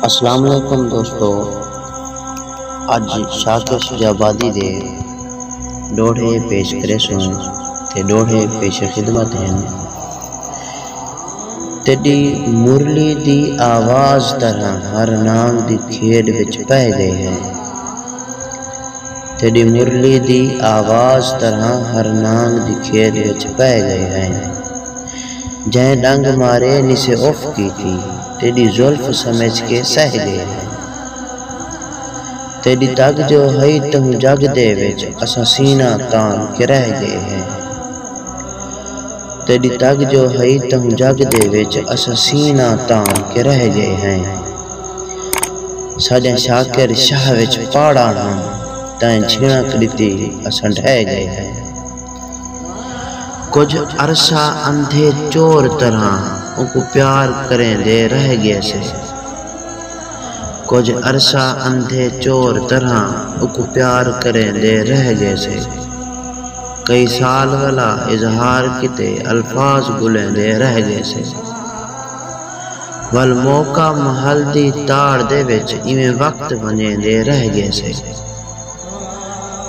اسلام علیکم دوستو اج شاکر شجاع آبادی دے ݙوہڑے پیش کریسوں تے ݙوہڑے پیش خدمت ہن۔ تیݙی مرلی دی آواز طرح ہر نانگ دی کھیݙ وچ پئے ڳئے ہیں۔ تیݙی مرلی دی آواز طرح ہر نانگ دی کھیݙ وچ پئے ڳئے ہیں۔ جئیں ݙنگ مارے نیسے اف کیتی تیݙی زلف سمجھ کے سہہ ڳئے ہئیں تیݙی تڳ جو ہئی تہوں جڳ دے وچ اساں سینہ تان کے رہ ڳئے ہئیں تیݙی تڳ جو ہئی تہوں جڳ دے وچ اساں سینہ تان کے رہ ڳئے ہئیں ساݙیاں شاکر شاہ وچ پاڑاں ہن تئیں جھݨک ݙتی اساں ڈھہہ ڳئے ہئیں۔ کجھ عرصہ اندھے چور طرحاں اونکوں پیار کریندے رہ گیسے کجھ عرصہ اندھے چور طرحاں اونکوں پیار کریندے رہ گیسے کئی سال ولا اظہار کیتے الفاظ گلیندے رہ گیسے ول موقع محل دی تاڑ دے وچ ایویں وقت ونجیندے رہ گیسے۔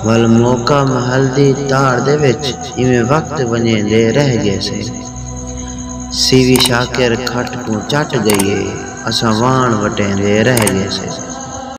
ول موقع محل دی تاڑ دے وچ ایویں وقت ونڄیندے رہ ڳیسے۔ سیوی شاکر کھٹ کوں چٹ ڳئی ہے، اساں واݨ وٹیندے رہ ڳیسے۔